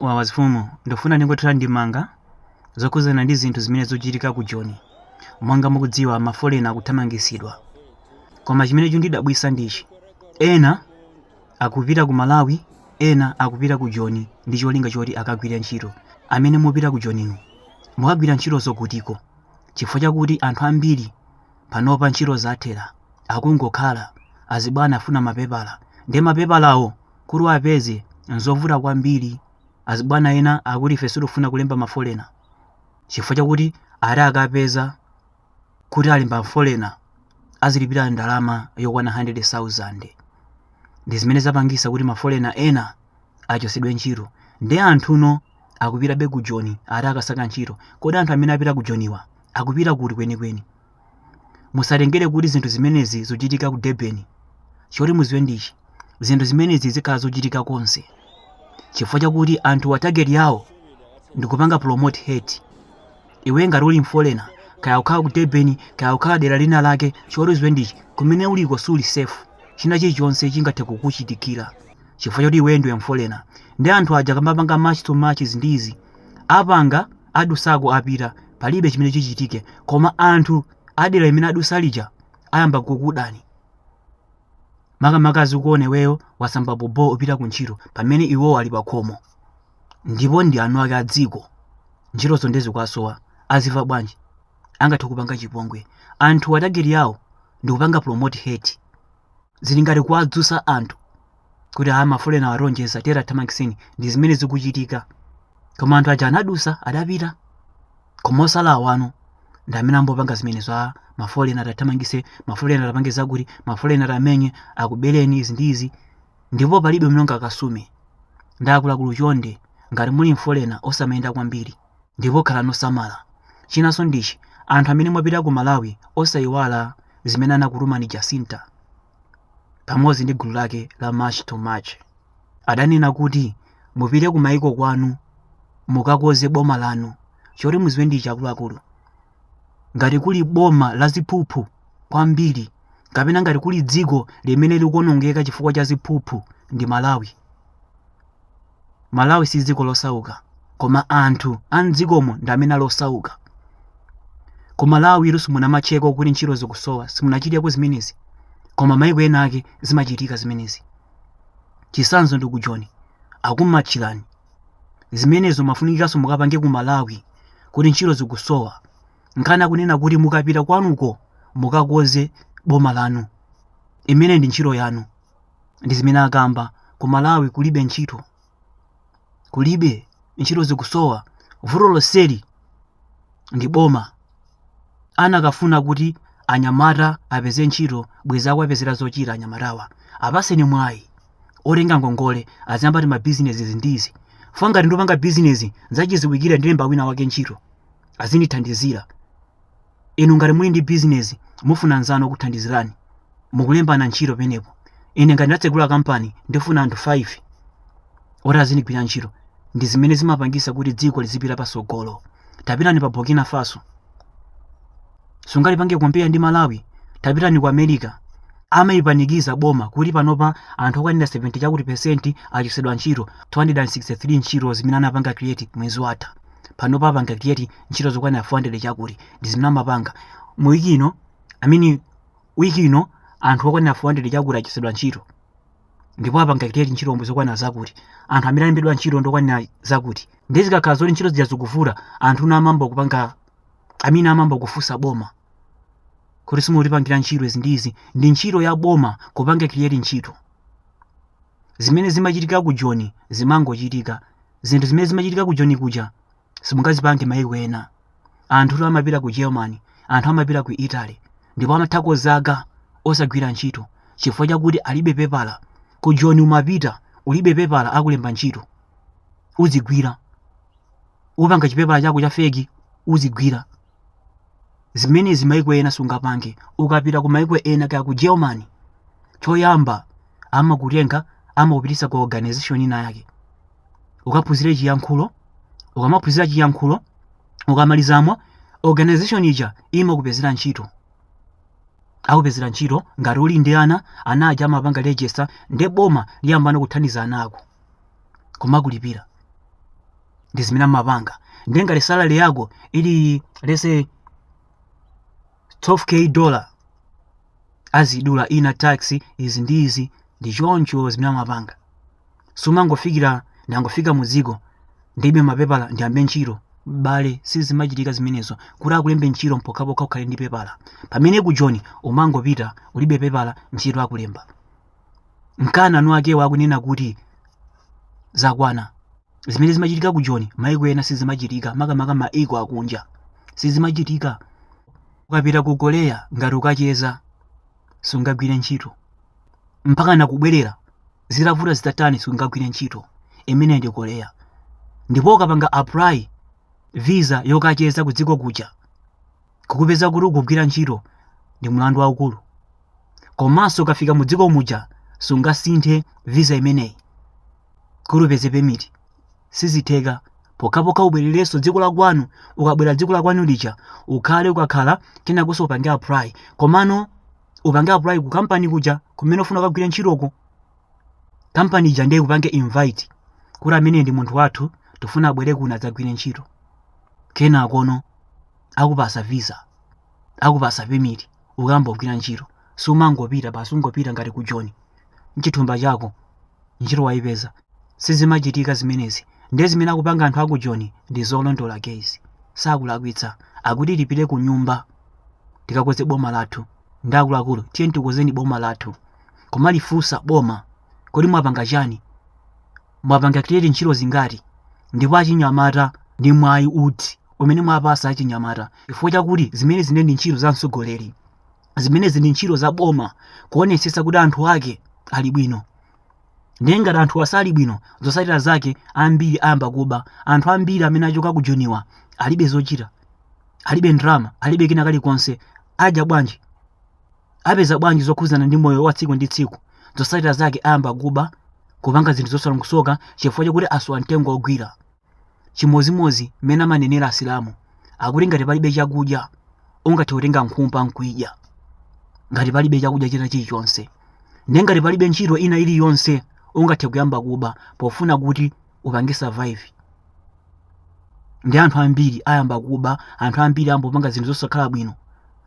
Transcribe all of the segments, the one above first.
Wawa zifumu, ndikufuna ndingothera ndemanga zokhudzana ndi zinthu zimene zochitika ku Joni. Monga mukudziwa mafolena akuthamangisidwa. Koma chimene chundidabwisa ndichi. Ena akupita ku Malawi, ena akupita ku Joni ndi cholinga choti akagwire ntchito. Amene mupita ku Joninu, mukagwira ntchito zakutiko? Chifukwa chakuti anthu ambiri panopa ntchito zathera, akungokhala, azibwana afuna mapepala, nde mapepalawo kuti uwapeze nzovuta kwambiri azibwana ena akuti ife sitofuna kulemba mafolena chifukwa chakuti ati akapeza kuti alemba mafolena azilipira ndalama yokwana 100,000 ndi zimene zapangisa kuti mafolena ena achosedwe ntchito nde anthu ena akupitabe ku joni ati akasaka ntchito kodi anthu amene apita ku joniwa akupita kuti kwenikweni musatengere kuti zinthu zimenezi zochitika ku durban choti muziwe ndichi zinthu zimenezi zikhala zochitika konse chifukwa chakuti anthuwa target yawo ndikupanga promote hate iwe ngati uli mfolena kaya ukhala ku durban kaya ukhala dera lina lake choti uziwe ndichi kumene uliko suli safe china chilichonse chingathe kukuchitikira chifukwa choti iwe ndiwe mfolena nde anthu aja akamapanga march to march izi ndi izi apanga adusa koma apita palibe chimene chichitike koma anthu adera limene adusa lija ayamba kukudani makamaka azikuona iweyo wasamba bhobho upita ku ntchito pamene iwowo ali pakhomo ndipo ndi eni ake a dziko ntchitozo nde zikuwasowa aziva bwanji angathe kukupanga chipongwe anthuwa target yawo ndikupanga promote hate zili ngati kuwadzusa anthu kuti aa mafolenawa awonjeza tiyeni athamangiseni ndi zimene zikuchitika koma anthu aja anadusa adapita koma osalawa no ndi amene amapanga zimenezi mafolena ati athamangise mafolena ati apange zakuti mafolena ati amenye akubereni izi ndi izi ndipo palibe komwe mungakasume nde akuluakulu chonde ngati muli mfolena osamayenda kwambiri ndipo khalani osamala chinanso ndichi anthu amene mwapita ku malawi osayiwala zimene anakutumani Jacinta pamodzi ndi gulu lake la March to March adanena kuti mupite ku maiko kwanu mukakonze boma lanu choti muziwe ndichi akuluakulu ngati kuli boma la ziphuphu kwambiri kapena ngati kuli dziko limene likuonongeka chifukwa cha ziphuphu ndi malawi malawi si dziko losauka koma anthu a mdzikomo ndi amene ali osauka ku malawi inu simunamatcheko kuti ntchito zikusowa simunachiteko zimenezi koma maiko ena ake zimachitika zimenezi chisanzo ndi ku joni akumatchirani zimenezo mufunikanso mukapange ku malawi kuti ntchito zikusowa nkhani akunena kuti mukapita kwanuko mukakonze boma lanu imene ndi ntchito yanu ndi zimene akamba ku malawi kulibe ntchito kulibe ntchito zikusowa vuto lonseli ndi boma anakafuna kuti anyamata apeze ntchito bwenzi akuwapezera zochita anyamatawa apaseni mwayi otenga ngongole aziyambati mabizinesi izi ndi izi coz ngati ndipanga bizinesi nzachiziwikire ndilemba wina wake ntchito azindithandizira Inu ngati muli ndi business mufuna mnzanu wokuthandizirani mukulembana ntchito penepo. Ine ngati ndatsegula kampani ndifuna anthu 5 oti azindigwira ntchito. Ndi zimene zimapangisa kuti dziko lizipita pasogolo. Tapitani pa Burkina Faso. Sungalipange compare ndi Malawi. Tapitani ku America. Amaipanikiza boma kuti panopa anthu okwanira 70 chakuti percent achosedwa ntchito, 263 ntchito zimene anapanga create mwezi watha. panopa apanga create ntchito zokwanira 400 chakuti ndi zimene amapanga mu wiki ino I mean wiki ino anthu okwanira 400 chakuti achosedwa ntchito ndipo apanga create ntchito omwe zokwana zakuti anthu amene alembedwa ntchito ndokwanira zakuti ndi zikakhala zoti ntchito zija zikuvuta anthu na amamba kupanga amene amamba kufunsa boma kuti simutipangira ntchito izi ndi izi ndi ntchito ya boma kupanga create ntchito zimene zimachitika ku joni zimangochitika zinthu zimene zimachitika ku joni kuja simungazipange mayiko ena anthutu amapita ku germany anthu amapita ku italy ndipo amathako zaka osagwira ntchito chifukwa chakuti alibe pepala ku joni umapita ulibe pepala akulemba ntchito uzigwira upanga chipepala chako cha feki uzigwira zimene maiko ena sungapange ukapita ku maiko ena kaya ku germany choyamba amakutenga amakupitisa ku organization ina yake ukaphunzire chiyankhulo ukamaphunzira chiyankhulo ukamalizamo organization ija imakupezera ntchito akupezera ntchito ngati uli ndi ana ana aja amapanga register nde boma liyambana kuthandiza ana ako kumakulipirira ndi zimene amapanga ndiye ngati salary yako ili let's say 12k dollar azidula ina tax izi ndi izi ndi choncho zimene amapanga sumangofikira ndangofika mu dziko ndilibe mapepala ndiyambe ntchito abale sizimachitika zimenezo kuti akulembe ntchito mpokhapokha ukhale ndi pepala pamene ku joni umangopita ulibe pepala ntchito akulemba nkana eni akewo akunena kuti zakwana zimene zimachitika ku joni maiko ena sizimachitika makamaka maiko akunja sizimachitika ukapita ku korea ngati ukacheza sungagwire ntchito mpaka nakubwerera zitavuta zitatani sungagwire ntchito imene ndi korea ndipo ukapanga apply visa yokacheza ku dziko kuja kukupeza kuti ukugwira ntchito ndi mlandu waukulu komanso ukafika mu dziko muja sungasinthe visa imeneyi kuti upeze permit sizitheka pokhapokha ubwererenso dziko la kwanu ukabwera dziko la kwanu lija ukhale ukakhala kenakonso upange apply komano upange apply ku kampani kuja kumene ufuna kukagwira ntchitoko kampani ija ndiye ikupange invite kuti amene ndi munthu wathu tifuna abwere kuno adzagwire ntchito kenakono akupasa visa akupasa permit ukambogwira ntchito sumangopita basi ungopita ngati ku joni mchithumba chako ntchito wayipeza sizimachitika zimenezi ndiye zimene akupanga anthu aku joni ndi zolondola guys sakulakwitsa akuti tipite ku nyumba tikakoze boma lathu ndi akuluakulu tiye tikozeni boma lathu kumalifunsa boma kodi mwapanga chani Mwapanga create ntchito zingati ndipo achinyamata ndi mwayi uti umene mwapasa achinyamata chifukwa chakuti zimenezi ndi ntchito za mtsogoleri zimenezi ndi ntchito za boma kuonetsetsa kuti anthu ake ali bwino ndiye ngati anthu asali bwino zotsatira zake ambiri ayamba kuba anthu ambiri amene achoka ku joniwa alibe zochita alibe ndrama alibe kina kalikonse adya bwanji apeza bwanji zokhudzana ndi moyo wa tsiku ndi tsiku zotsatira zake ayamba kuba kupanga zinthu zosalongosoka chifukwa chakuti asowa mtengo wogwira chimodzimodzi mmene amanenera asilamu akuti ngati palibe chakudya ungathe kutenga nkhumba nkuyidya ngati palibe chakudya china chilichonse ndiye ngati palibe ntchito ina iliyonse ungathe kuyamba kuba pofuna kuti upange survive ndi anthu ambiri ayamba kuba anthu ambiri ayamba kupanga zinthu zosakhala bwino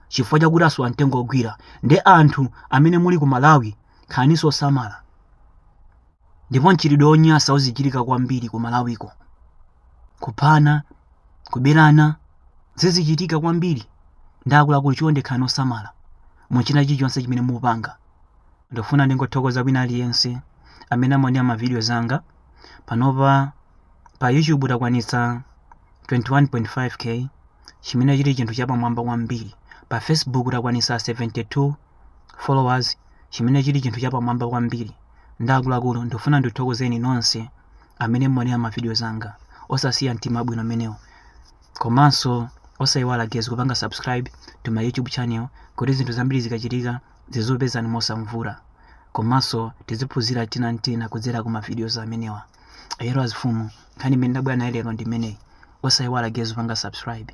chifukwa chakuti asowa mtengo wogwira ndi anthu amene muli ku malawi khaninso osamala ndipo mchitidwe wonyasa uzichitika kwambiri ku malawiko kuphana kuberana zizichitika kwambiri ndi akuluakulu chonde khani osamala mu china chilichonse chimene mupanga Ndifuna ndingothokoza wina aliyense amene amaonera ma videos anga. Panopa pa YouTube takwanitsa 21.5k chimene chili chinthu chapamwamba kwambiri. Pa Facebook takwanitsa 72 followers chimene chili chinthu chapamwamba kwambiri. Ndi akuluakulu ndifuna ndithokozeni nonse amene mumaonera ma videos anga. Osasiya mtima wabwino umenewo. Komanso osayiwala guys kupanga subscribe to my YouTube channel kuti zinthu zambiri zikachitika zizopezani mosavuta komanso tiziphunzira tina ntina kudzera ku mavideos amenewa ayero azifumu nkhani imene ndabwera nayo lero ndi imeneyi osayiwala guys kupanga subscribe